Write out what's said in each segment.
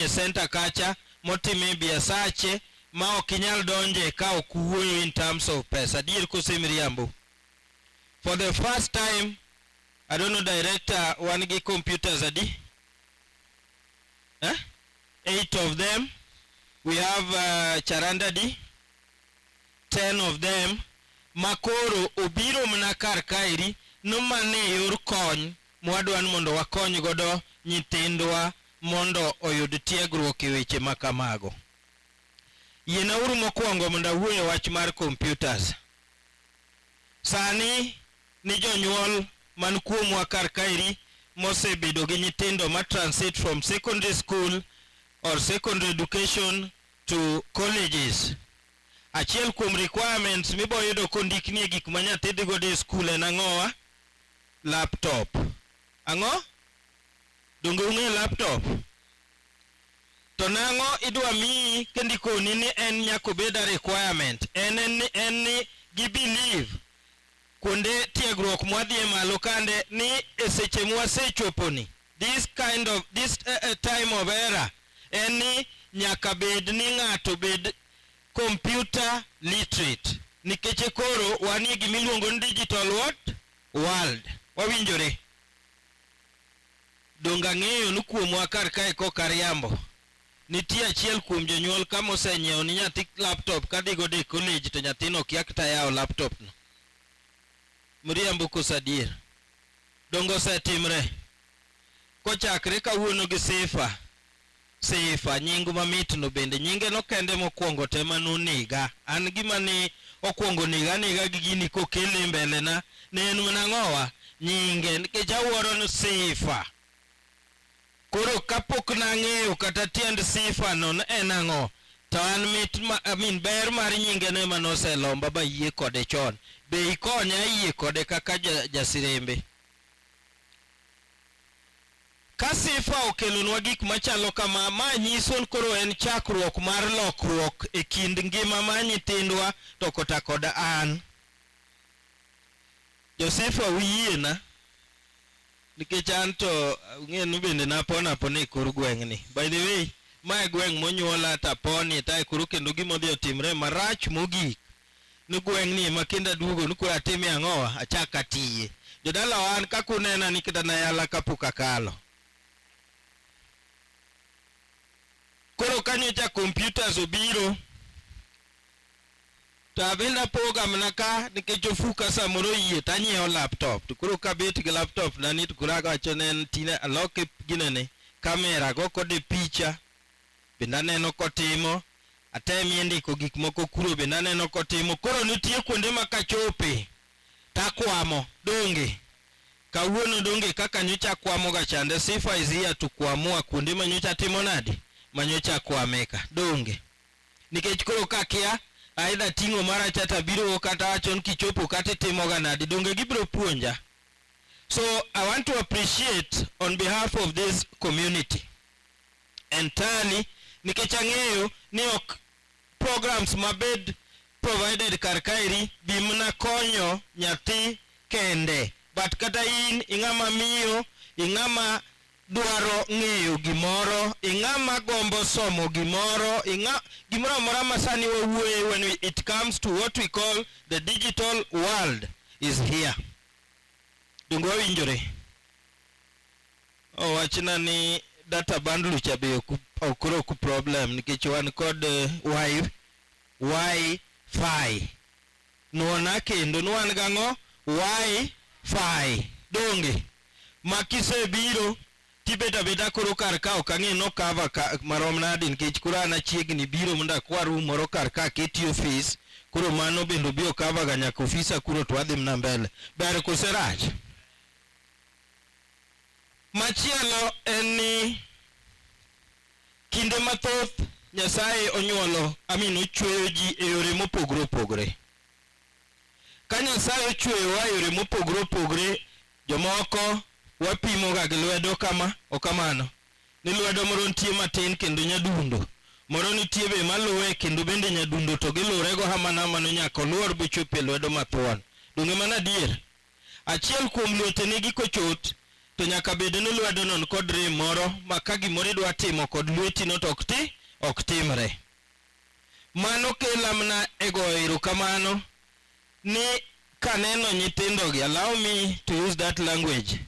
e center kacha motime biasache ma ok inyal donje ka ok wuoyo in terms of pesa adier kose miriambo for the first time I don't know director wan gi computers adi eh? eight of them we have uh, charanda di ten of them makoro obiro mana kar kaeri nomane yor kony mwadwani mondo wakony godo nyithindwa mondo oyud tiegruok e weche ma kamago. Yienauru mokwongo mondo awuo e wach mar computers. Sani ni jonyuol man kuomwa kar kaeri mosebedo gi nyithindo ma transit from secondary school or secondary education to colleges. Achiel kuom requirements miboyudo kondiknie gik ma nyathi dhi godo e skul en ang'owa? laptop. Ang'o? Donge ung'e laptop? To nang'o idwa miyi kendo ikoni ni en nyaka obed a requirement? En ni en ni gi believe kuonde tiegruok mwadhie malo kande ni e seche mwasechoponi this kind of this uh, uh, time of era en ni nyaka bed ni ng'ato bed computer literate nikech koro wanie gima iluongo ni digital what world wawinjore donge ang'eyo ni kuomwa kar kae kok ariambo nitie achiel kuom jonyuol ka mosenyiewo ni nyathi laptop ka dhigo de college to nyathino okia kata yawo laptopno mriambo koso adier donge osetimre kochakre kawuono gi sifa Sifa, nying mamitno bende nyingeno kende mokwongo te ma noniga. An gima ne okwongo nega anega gi gini kokele mbelena ne en mana ng'owa nyinge nikech awuoro ni sifa. Koro kapok nang'eyo kata tiend sifa no ne en ang'o, to an mit ma, I mean, ber mar nyingeno ema noselomba bayie kode chon. Be ikonya ayie kode kaka ja, jasirembe. Ka Sifa okelonwa gik machalo kama, ma nyiso ni koro en chakruok mar lokruok e kind ngima mar nyithindwa to kota kod an. Josefa uyiena nikech an to ung'enu bende napon apona e kor gweng'ni. By the way, ma e gweng' monyuola taponi tae koro kendo gima odhi otimre marach mogik ni gweng' ni ma kinda duogo ni kura atime ang'owa achak atiye jodala wan kaka unena ni kinda nayala kapok akalo koro kanyocha computers obiro to abende apoga mana ka nikech ofuka samoro yie to anyiewo laptop to koro kabet gi laptop na ni to koro agawacho ne en tine aloke ginene kamera go kode picha bende aneno kotimo, atemie ndiko gik moko kuro bende aneno kotimo. Koro nitie kuonde ma kachope takwamo donge kawuono donge kaka nyocha kwamoga chande sifa is here to kwamua kuonde ma nyocha timo nadi ma nyocha kwameka donge nikech koro kakia aidha ting'o mara chata biro kata wachon kichopo kata itimoga nadi donge gibiro puonja so i want to appreciate on behalf of this community entirely nikech ang'eyo ni ok programs mabed provided kar kaeri bi mana konyo nyathi kende but kata in ing'ama miyo ing'ama dwaro ng'eyo gimoro ing'ama gombo somo gimoro ing'a gimoro amora ma sani wawuoye when we, it comes to what we call the digital world is here donge wawinjore owachna ni data bundle cha be okro ku problem nikech wan kod eh, wi wi fi nuona kendo nuan gang'o wi fi donge makisebiro tibeta beta koro kar ka ok ang'e no cover ka, marom nadi nikech koro an achiegni biro mondo akwa room moro kar ka aketi office koro mano bende obi okavaga nyaka ofisa kuro to wadhi mna mbele ber koserach Machielo en ni kinde mathoth Nyasaye onyuolo amin ochweyo ji e yore mopogore opogore. Ka Nyasaye ochweyowa e yore mopogore opogore, jomoko wapimoga gi lwedo kama okamano ni lwedo moro nitie matin kendo nyadundo moro nitie be maluwe kendo bende nyadundo to gilurego hamano hamano nyaka oluor bochop e lwedo mathuon. Donge mano adier? Achiel kuom lwete nigi kochot, to nyaka bed ni lwedono nikod rem moro ma ka gimoro idwa timo kod lwetino to ok ti, ok timre. Mano kela mana e goyo erokamano ni kaneno nyithindogi, allow me to use that language,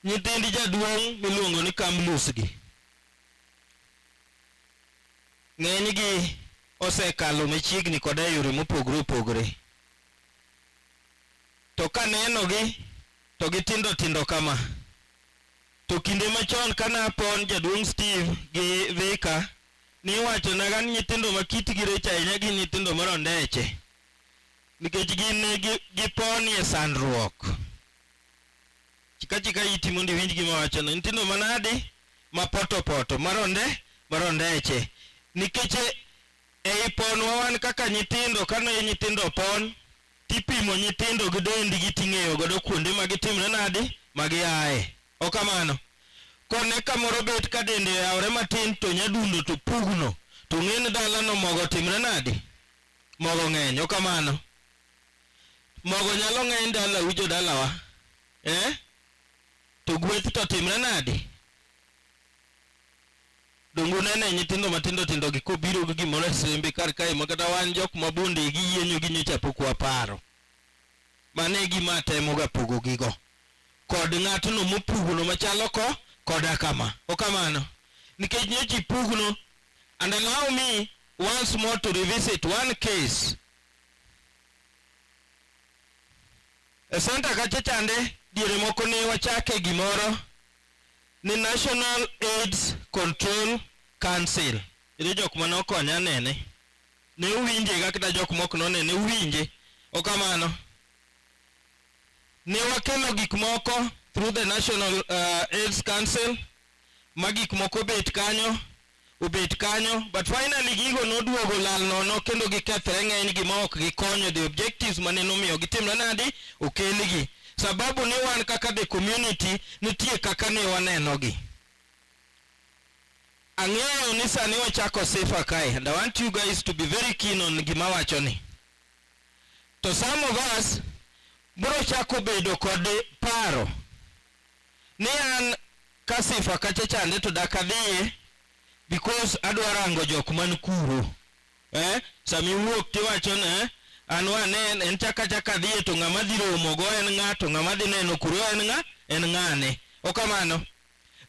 nyithind jaduong' miluongo ni Kamlus gi. Ng'enygi osekalo machiegni koda e yore mopogore opogore. to ka nenogi to gitindo tindo kama. To kinde machon ka napon jaduong' Steve gi Vika niwachonaga ni nyithindo ma kitgi rech ahinya gin nyithindo marondeche nikech gin giponie sandruok. Chika chika iti mondo iwinj gima wachono. Nyithindo manadi? Mapotopoto, maronde, marondeche. Nikech Ei ponwa wan kaka nyithindo, kane nyithindo opon, tipimo nyithindo gi dendgi ting'eyo godo kuonde ma gitimre nadi, ma giaye. Ok kamano? Kone kamoro bet ka dende oyawore matin to nyadundo to pugno. To ung'e ni dalano mogo otimre nadi? Mogo ng'eny. Ok kamano? Mogo nyalo ng'eny dalau jodalawa. Eh? To gweth to timre nadi? donge unene nyithindo matindo tindo gi kobiro gi gimoro e sembe kar kae ma kata wan jok ma bonde gi yienyo gi nyocha pok waparo mano e gima atemoga pogo gigo kod ng'atno mopugno machalo ko koda kama okamano nikech nyocha ipugno and allow me once more to revisit one case e senta kacha chande diere moko ne wachake gimoro ni National AIDS Control Council iri jok mane okonya nene ne uwinje ga kata jok mok nonene uwinje okamano ne wakelo gik moko through the National uh, AIDS Council ma gik moko bet kanyo obet kanyo but finally gigo noduogo lal nono kendo gikethre ng'eny gima ok gikonyo the objectives mane nomiyo gitimre nadi okelgi sababu ni wan kaka the community nitie kaka ne wanenogi ang'eyo ni sani wachako sifa kae and i want you guys to be very keen on gima wacho ni to some of us bro chako bedo kod paro ni an ka sifa kacha chande to dak adhiye because adwa rango jok man kuro eh? sami wuok tiwacho ne eh? an wane en chaka chaka dhiye to ng'ama dhi romo go en ng'a to ng'ama dhi neno kuro en ng'a en ng'ane okamano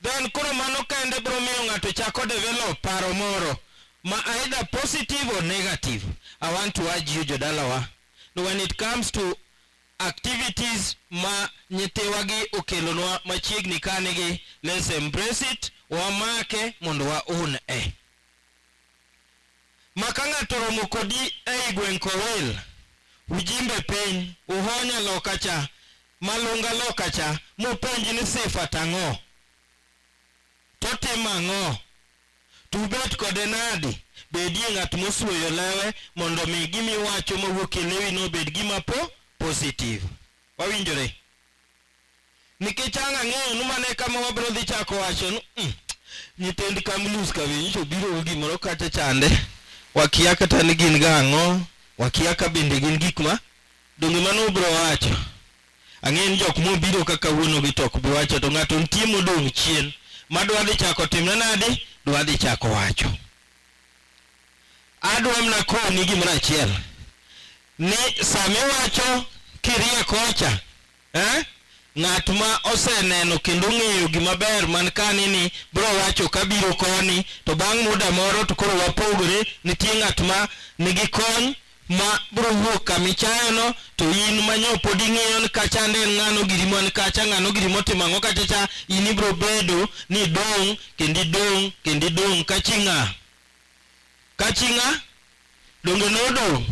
then koro mano kende bro miyo ng'ato chako develop paro moro ma either positive or negative i want to urge you jodalawa when it comes to activities ma nyithiwagi okelonwa machiegni kanigi let's embrace it wamake mondo waun e ma ka ng'ato romo kodi ei gweng' kowil ujimbe piny uhonya loka cha malunga loka cha mopenji ni sifa tang'o totimo ang'o To ubet kode nadi? Bedie ng'at mosuoyo lewe mondo omi gima iwacho mawuok e lewino obed gima po positive. Wawinjore? Nikech ang' ang'eyo ni mano e kama wabiro dhi chako wacho ni mm, nyithind Kamlus ka winjo biro gi gimoro kacha chande. Wakia kata ni gin ga ang'o, wakia ka bende gin gik ma donge mano ubiro wacho. Ang'eyo ni jok mobiro kaka wuonogi to ok bi wacho, to ng'ato nitie modong' chien ma dwa dhi chako timne nadi, dwa dhi chako wacho. Adwa mana koni gimoro achiel ni sama iwacho kirie kocha eh, ng'at ma oseneno kendo ong'eyo gima ber man kani ni bro wacho kabiro koni to bang' muda moro to koro wapogore, nitie ng'at ma nigi kony ma biro wuok kama ichayono, to in ma nyo pod ing'iyo ni kacha ande en ng'ano giri man kacha, ng'ano giri motimo ang'o kacha cha, in ibiro bedo ni idong' kendo idong' kendo idong' ka chi ng'a? Ka chi ng'a? Donge nodong'?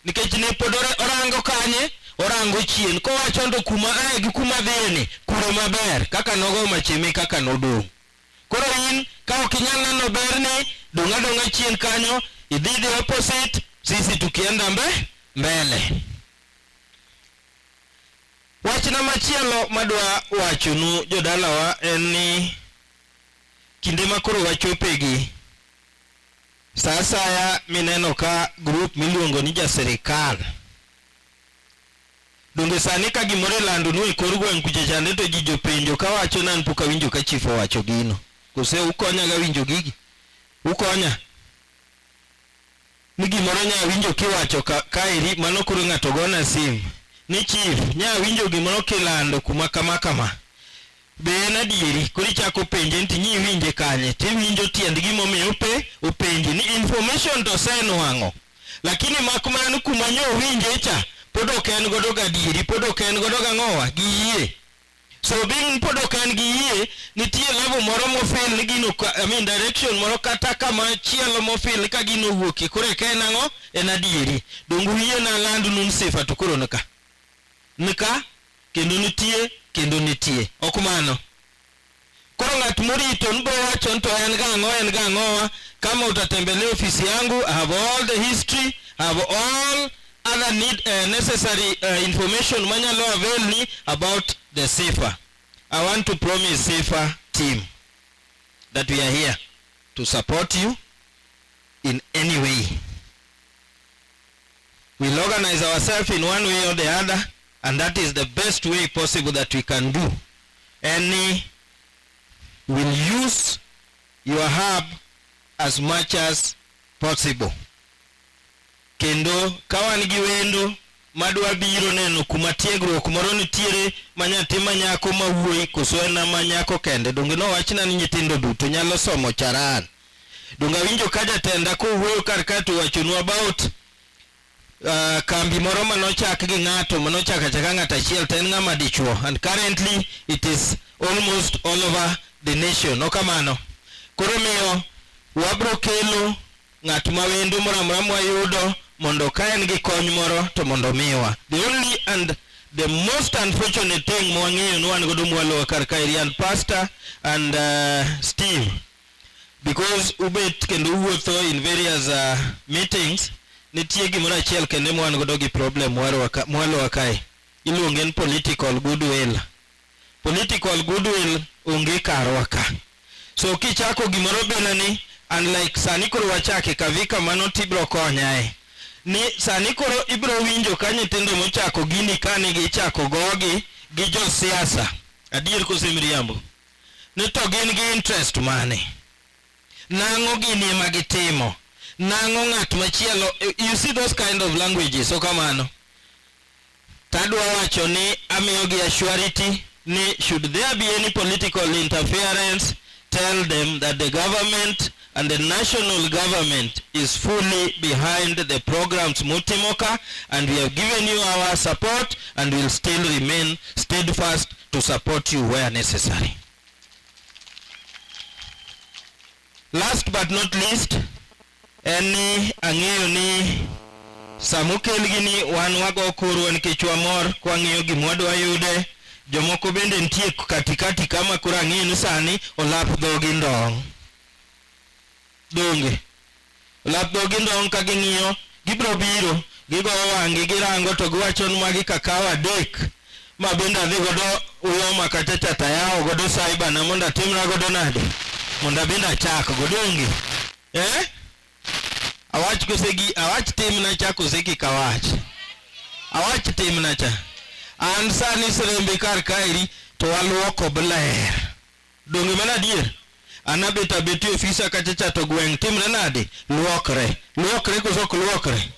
Nikech ne pod ora- orango kanye? Orango chien. Kowacho ndo kuma aye gi kuma adhiyeni, kure maber. Kaka nogo machimi kaka nodong'. Koro in ka ok inyal neno berni, dong' adong'a chien kanyo, idhi the opposite, sisi tukienda mbe mbele. Wachna machielo madwa wachonu jodalawa en ni kinde ma koro wachopegi, sa asaya mineno ka grup miluongo ni ja sirikal Donge sani ka gimoro ilando nu e kor gweng' kucha chande to ji jopenjo ka wacho nan pok awinjo ka chief owacho gino. Kose ukonya ga winjo gigi? Ukonya? Ni gimoro nya winjo kiwacho ka, ka eri mano koro ng'ato gona sim. Ni chief, nya winjo gimoro kilando kuma kama kama. Be en adieri? Koro ichako penje nti ni iwinje kanye, tiwinjo tiend gimomiyo ope openji ni information to osenwang'o, lakini mak mana ni kuma nyo owinje cha pod ok en godo gadieri, pod ok en godo gang'owa gi yie. So being pod ok en gi yie, nitie level moro mofil ni gino, I mean direction moro kata kama chielo mofil ka gino owuokie, koro eka en ang'o? En adieri. Donge uyie nalandnu ni sifa to koro nika? nika kendo nitie kendo nitie. Ok mano? Koro ng'at morito ni bowacho ni to en ga ang'o en ga ang'owa kama utatembelea ofisi yangu I have all the history I have all other need, uh, necessary uh, information manyalo avail ni about the safer I want to promise safer team that we are here to support you in any way We'll organize ourselves in one way or the other, and that is the best way possible that we can do. Any will use your hub as much as possible. Kendo kawan gi wendo madwa biro neno kuma tiegruok moro nitiere ma nyathi ma nyako ma wuoyi koso en ma nyako kende donge nowachna ni nyithindo duto nyalo somo charan Donge awinjo ka jatenda kowuoyo kar ka to wachonu about uh, kambi moro ma nochak gi ng'ato ma nochak achaka ng'ato achiel to en ng'ama dichuo and currently it is almost all over the nation no kamano koro miyo wabro kelo ng'at ma wendo moro amora mwayudo mondo ka en gi kony moro to mondo miwa the only and the most unfortunate thing mwang'eyo ni wan godo mwalowa kar kaeri and pastor and uh, steve because ubet kendo uwuotho in various uh, meetings nitie gimoro achiel kendo mwan godo gi problem mwalowa kae iluonge ni political goodwill political goodwill onge karwa ka so kichako gimoro bila ni unlike sani koro wachake kavi kamano tibro konyae ni sani koro ibro winjo ka nyithindo mochako gini kane gichako gogi gi josiasa adier kosemiriambo Ni to gin gi interest mane? Nang'o gini ema gitimo? Nang'o ng'at machielo? You see those kind of languages, so kamano. Tadwa wacho ni amiyogi assurity ni should there be any political interference, tell them that the government and the national government is fully behind the programs Mutimoka and we have given you our support and will still remain steadfast to support you where necessary. Last but not least, en ni ang'eyo ni samukel gini wan wago kuru nikech wamor kwang'iyo gima wadwa yude jomoko bende nitie katikati kama koro ang'eyo ni sani olap dhogi ndong' donge lap dhogi ndong' ka ging'iyo gibiro biro gigoyo wang'gi girango to giwacho ni magi kakaw adek ma bende adhi godo uyoma kata chatayawo godo saibana mondo atimra godo nade mondo abende achak godo onge eh? awach kosegi awach timna cha koseki kawach awach timna cha an sani sirembe kar kaeri to waluoko bler Donge mano adier? Anabet abeti ofisa kacha cha to gweng' timre nade? Luokre. Luokre koso ok luokre?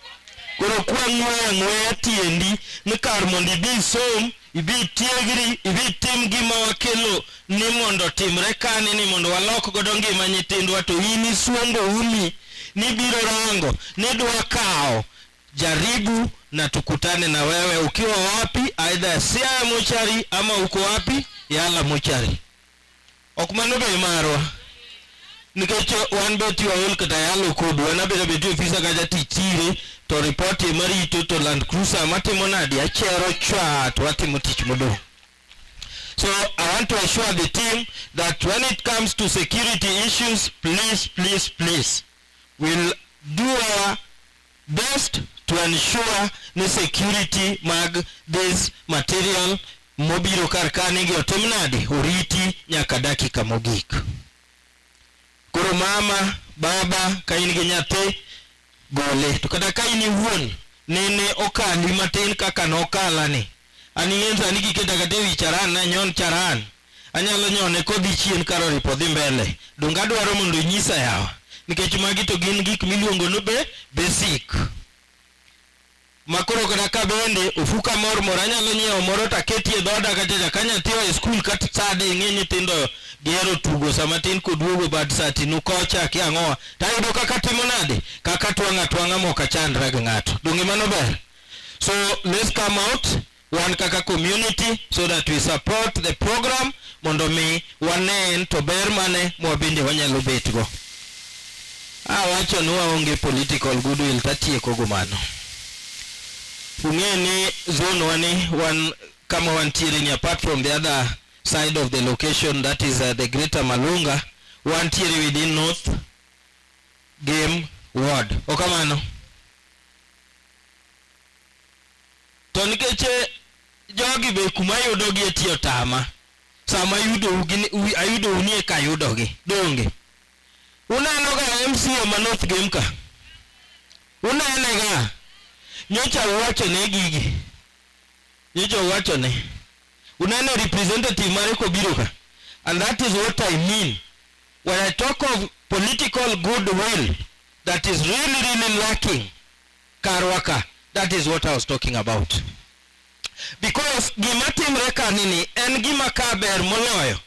Koro kwang'weyo ang'weya tiendi ni kar mondo ibi isom, ibi itiegri, ibi itim gima wakelo ni mondo otimre kani ni mondo walok godo ngima nyithindwa to in isuombo umi nibiro rango nidwa kawo Jaribu na tukutane na wewe ukiwa wapi, aidha Siaya mochari ama uko wapi Yala mochari. Ok mano be marwa nikech wan be tiwa ol kata yalo kodu wan abedo be tiyo ofisa kata tichire to ripoti ema rito to land cruiser matimo nadi achero chwa to watimo tich modong' So I want to assure the team that when it comes to security issues, please, please, please, we'll do our Best to ensure ni security mag this material mobiro kar kane gi otim nade oriti nyaka dakika mogik. Koro mama, baba ka in gi nyathi gole to kata ka in iwuon nene okali matin kaka nokalani An ing'en sani kiketa kata ewi charan nanyon charan anyalo nyone kodhi chien kar oripo dhi mbele donge adwaro mondo inyisa yawa nikech magi to gin gik miluongo ni be basic makoro kata ka bende ofuka mor mor anyalo nyiewo moro to aketie dhoda kata ka nyathi oa e skul kata sade ing'e nyithindo gihero tugo sama tin koduogo bad saa tinu kocha ki ang'owa to ayudo kaka timo nade kaka twang'a twang'a mok achandra gi ng'ato donge mano ber So let's come out wan kaka community so that we support the program mondo mi wanen to ber mane mwabende wanyalo betgo. Awacho ni waonge political goodwill tatieko go mano. Ung'e ni zone wani wan kama wantiere ni apart from the other side of the location that is uh, the greater Malunga wantiere within north game ward. Okamano. Okay, to nikech eh, jogi be kuma yudogi e tiyo tama sama ayudou nie ka yudogi donge uneno ga mca ma north game ka unene ga nyocha uwachone gigi nyocha uwachone uneno representative mare kobiro ka and that is what i mean when i talk of political goodwill that is really really lacking karwa ka that is what i was talking about because gima timre ka nini en gima ka ber moloyo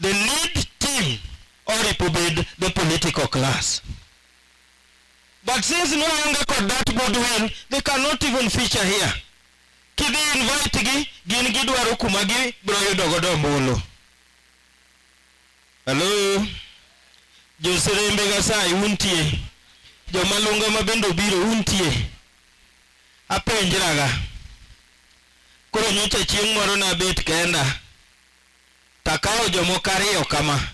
the lead team or ipobed the political class but since no longer got that good one they cannot even feature here kidhi invite gi gin gidwaro kuma gi bro yudo godo ombulu Hello. Joserembe Nyasaye untie. Joma lunga ma bende obiro untie. Apenjraga. Koro nyocha chieng' moro nabet kenda. Takawo jomoko ariyo kama.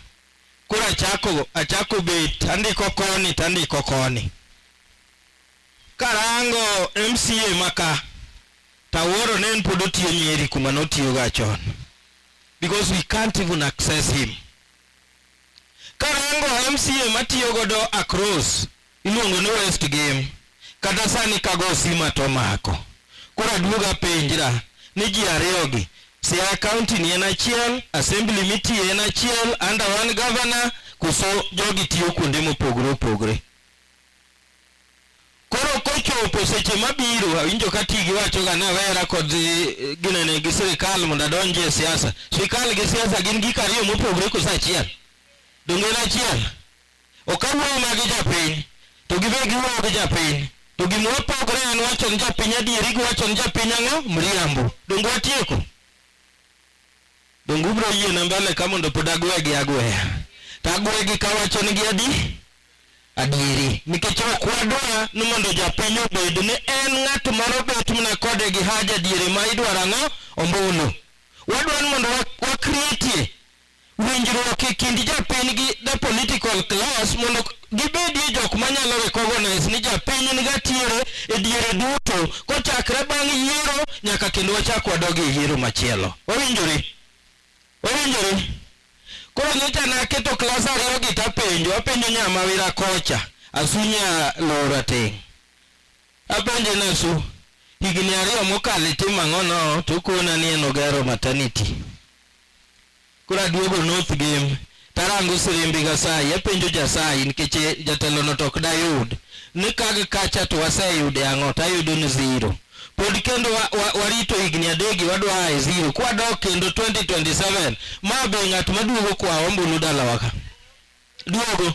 Koro achako achako bet andiko koni to andiko koni. Karango MCA maka tawuoro ne en pod otiyo Nyeri kuma notiyoga chon. because we can't even access him. Karango MCA matiyo godo across iluongo ni West Game kata sani kago sima to mako. Koro aduoga penjra ni ji ariyogi Siaya County ni en achiel, Assembly mitiye en achiel, under one governor, kuso jogi tiyo kuonde mopogore opogore. Koro kochopo seche mabiro awinjo ka tigi wachoga ni awera kod eh, ginene gi sirikal mondo adonji e siasa. Sirikal gi siasa gin gik ariyo mopogore koso achiel? Donge en achiel? Ok awuoyo ma gi japiny, to gibe giwuoyo gi japiny. To gima wapogore en wacho ni japiny adieri gi wacho ni japiny ang'o? Mriambo. Donge watieko? Donge ubiro yiena mbele ka mondo pod agwegi agweya? To agwegi kawacho ni gi adi? adieri nikech ok wadwa ni mondo japiny obed ni en ng'at moro bet mana kode gi haja diere ma idwaro ang'o ombulu wadwa ni mondo wakretie winjruok e kind japiny gi the political class mondo gibedie jok manyalo recognize ni japiny en gatiere e diere duto kochakre bang' yiero nyaka kendo wachak wadog e yiero machielo wawinjore Owinjore. Koro nyocha naketo klas ariyogi tapenjo, apenjo nya mawira kocha, Asu nya Luo Rateng'. Apenje ni Asu, higni ariyo mokalo itimo ang'o no? Tokona ni en ogero maternity. Koro aduogo North Gem, Tarango sirimbi Gasayi, apenjo Jasayi nikech eh, jatelo no tok dayud ni kag kacha to waseyude ang'o to ayudo ni zero. Pod kendo wa, wa, warito higni adegi wadwa e zero kwadok kendo 2027 ma be ng'at maduogo kwa ombulu dalawa ka duogo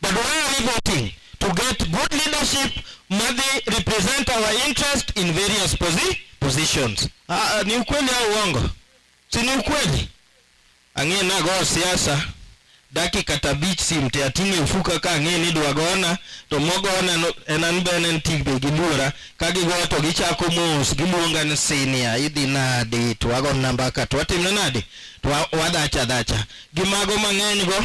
But why are we voting? To get good leadership madhi represent our interest in various posi positions. Ah, ah ni ukweli au uongo? Si ni ukweli? Ang'e nago siasa dakika tabich sim te ating'e ufuka ka ang'e ni dwa gona to mogona no, en an be en tik be giluora ka gigoyo to gichako mos giluonga ni senior idhi nadi to wago namba ka to watimne nadi to wadhacha dhacha gi mago mang'eny go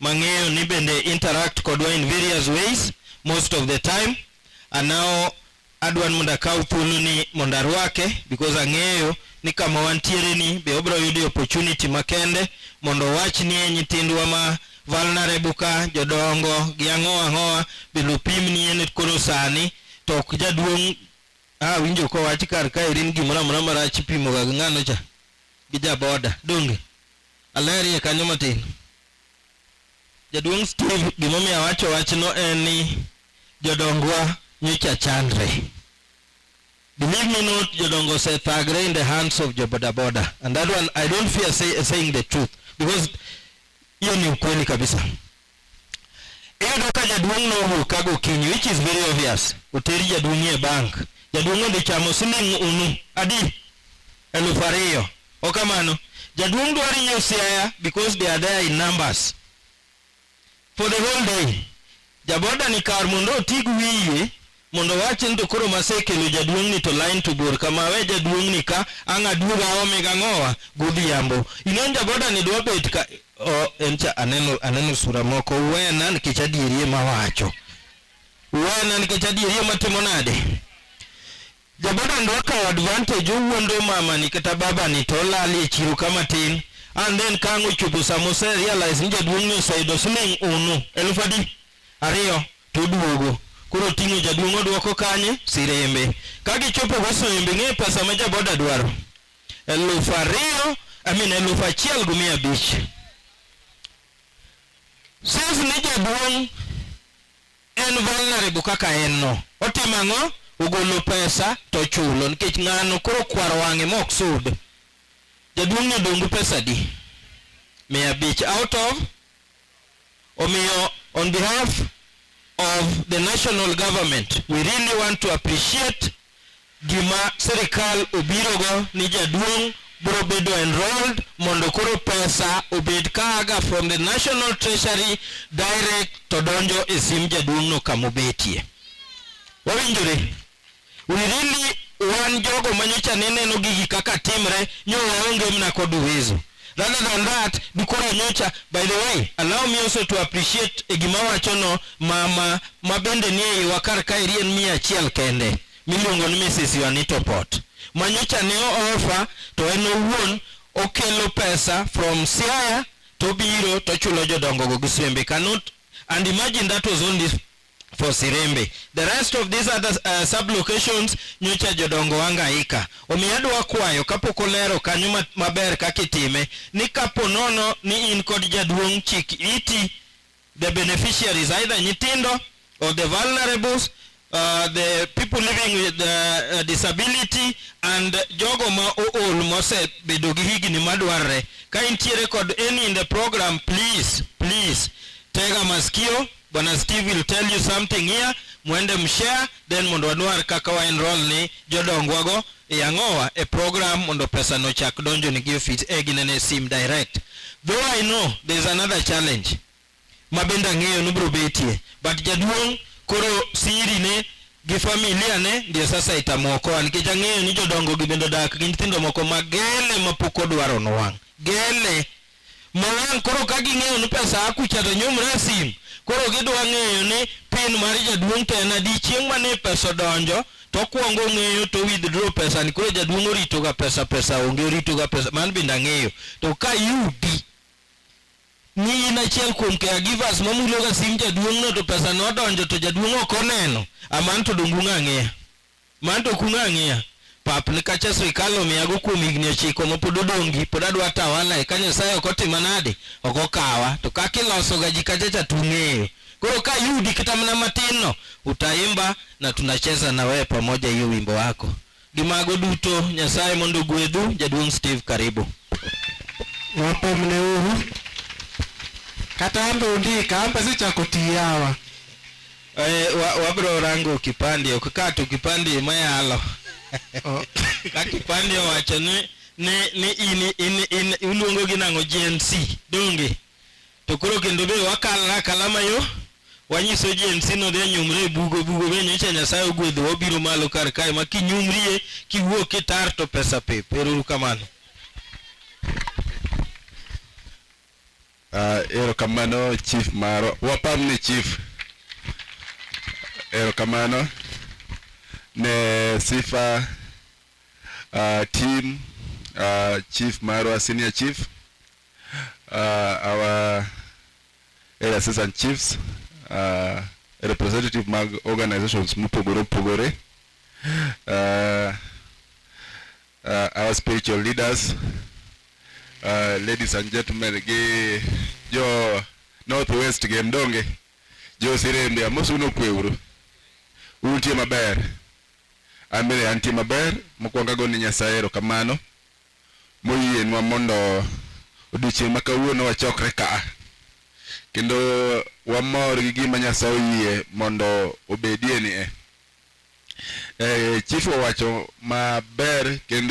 mang'eyo ni bende interact kodwa in various ways most of the time and now adwan mondo akaw thuolo ni mondo arwake because ang'eyo ni kama wantiere ni be obiro yudo opportunity makende mondo owach ni e nyithindwa ma vulnerable ka jodongo gi ang'owa ang'owa be lopim ni en koro sani to ok jaduong' ah, winjo kowach kar ka irin gimoro amora marach ipimoga gi ng'ano cha gi jaboda donge Alerie kanyo matin. Jaduong' Steve gimomiyo awacho wachno en ni jodongwa nyocha chandre. Believe me not, jodongo osethagre in the hands of jobodaboda. And that one, I don't fear say, saying the truth because hiyo ni ukweli kabisa. Iyudo ka jaduong' nowuok ka gokinyi which is very obvious. Oter jaduong' e bank. Jaduong' odhi chamo siling' unu adi? Eluf ariyo. Ok kamano? Jaduong' dwaro nyiew siaya because they are there in numbers. For the whole day. Jaboda ni kar mondo otig wiye mondo wawachi ni to koro masekelo jaduong'ni to line to bor kama we jaduong'ni ka ang' aduog aome gang'owa godhiambo inon jaboda ni dwa bet ka oh, en cha aneno, aneno sura moko wena nikech adierie mawacho wena nikech adierie matimo nade jaboda ni dwa kawo advantage owuondo mamani kata babani to olali e chiro kama tin and then ka ang' ochopo sama oserealize ni jaduong'ni oseyudo siling' unu elfu adi ariyo To oduogo. Koro oting'o jaduong' oduoko kanye? Sirembe. Ka gichopo go Soembe ing'eyo pesa ma jaboda dwaro? Elufu ariyo, I mean elufu achiel gi mia abich. Since ni jaduong' en vulnerable kaka en no, otimo ang'o? Ogolo pesa to ochulo nikech ng'ano koro okwaro wang'e ma ok sud. Jaduong' ni odong' gi pesa adi? Mia abich out of Omiyo, on behalf of the national government, we really want to appreciate gima sirikal obirogo ni jaduong' biro bedo enrolled mondo koro pesa obed kaaga from the national treasury direct to donjo e sim jaduong'no kamobetie. Wawinjore? We really wan jogo manyocha ne neno gigi kaka timre nyo waonge mna kod uwezo rather than that dukora nyocha by the way allow me also to appreciate e gima wacho no mama ma bende ni e iwa kar ka irien mia achiel kende miluongo ni Mrs. Juanito Pot manyocha ne ofa to en owuon okelo pesa from Siaya to biro to chulo jodongo go gi swembe cannot and imagine that was only for Sirembe. The rest of these other uh, sub-locations nyocha jodongo wangaika. Omiyo adwa kwayo kapok olero kanyo maber kaka itime ni kapo nono ni in kod jaduong' chik iti the beneficiaries either nyitindo or the vulnerables uh, the people living with the, uh, uh, disability and jogo ma ool mosebedo gi higni madwarre. Ka intiere kod any in the program please please tega masikio Bwana Steve will tell you something here, mwende mshare then mondo wanwar kaka wa enroll ni jodongwa go e ang'owa e program mondo pesa no chak donjo ni gi office e ginene sim direct. Though I know there is another challenge ma bende ang'eyo ni bro betie but jaduong' koro siri ne gi familia ne ndio sasa itamuokoa nikech ang'eyo ni jodongo gi bende odak gi nyithindo moko ma gele ma pok odwaro nowang' gele mowang' koro ka ging'eyo ni pesa a kucha to nyumre e sim koro gidwa ng'eyo ni pin mar jaduong' to en adi chieng' mane pesa odonjo to okwongo ong'eyo to withdraw pesa ni koro jaduong' orito ga pesa pesa onge orito ga pesa man bende ang'eyo to ka yudi ni in achiel kuom caregivers mamulo ga sim jaduong' no to pesa no odonjo to jaduong' ok oneno aman to dongu ng'ang'eya Man to kuno ang'iya pap ni kacha sirikal omiyago kuom higni ochiko ma pod odongi pod adwa tawala e ka Nyasaye ok otima nade ok okawa to kaka iloso ga ji kacha cha tung'eyo koro ka yudi kata mana matin no utaimba na tunacheza na wewe pamoja hiyo wimbo wako gi mago duto Nyasaye mondo ogwedhu jaduong' Steve karibu wapomne uru kata ambe undika ambe sichako tiyawa Eh, wa- wabiro rango kipande ok ka to kipande ema yalo ka kipande owacho ni ni ni in in in uluongo gi nango Gen Z donge to koro kendo be wakal na kalama yo wanyiso Gen Z no de nyumre e bugo bugo be nyocha Nyasaye ogwedho wabiro malo kar kae ma kinyumrie kiwuok kitar to pesa pep ero kamano Uh, erokamano chief maro wapam ne chief erokamano ne sifa uh, team uh, chief marwa senior chief uh, our area assistant chiefs uh, representative mag organizations mopogore opogore uh, uh, our spiritual leaders, uh, ladies and gentlemen, gi jo Northwest gi Mdonge, jo Sirembe, amosu no kweuru. Untie maber. Amire antie maber, mokwongo ago ni Nyasaye erokamano moyienwa mondo odiochieng' ma kawuono wachokre ka kendo wamor gi gima Nyasaye oyie mondo obedie ni e. eh, chief owacho maber kendo